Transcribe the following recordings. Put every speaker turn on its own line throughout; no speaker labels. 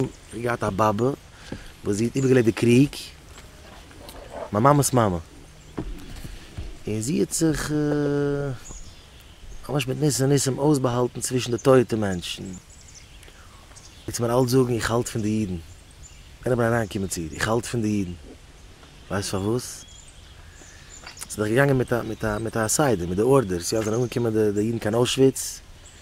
איך האב געהאט א באבע וואס זי האט איבערגעלעבט די קריג, מיין מאמע'ס מאמע, און זי האט זיך ממש מיט ניסי ניסים אויסבאהאלטן צווישן די טויטע מענטשן, וועסט מיר אלץ זאגן איך האלט פון די אידן, איינער וועל אריינקומען צו איר, איך האלט פון די אידן, ווייסט פארוואס? זי איז דאך געגאנגען מיט א מיט א סדר, מיט די ארדערס, יא, זענען אנגעקומען די אידן קיין אוישוויץ,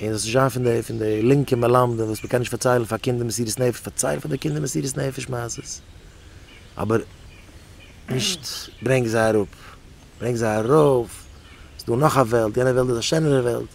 און עס איז שוין פון די פון די לינקע מלמדים וואס מען קען נישט פארציילן פאר קינדער מסירות נפש פארצייל פאר די קינדער מסירות נפש מעשות אבער נישט ברענג זיי אראפ ברענג זיי ארויף ס'איז דא נאך א וועלט יענע וועלט איז א שענערע וועלט.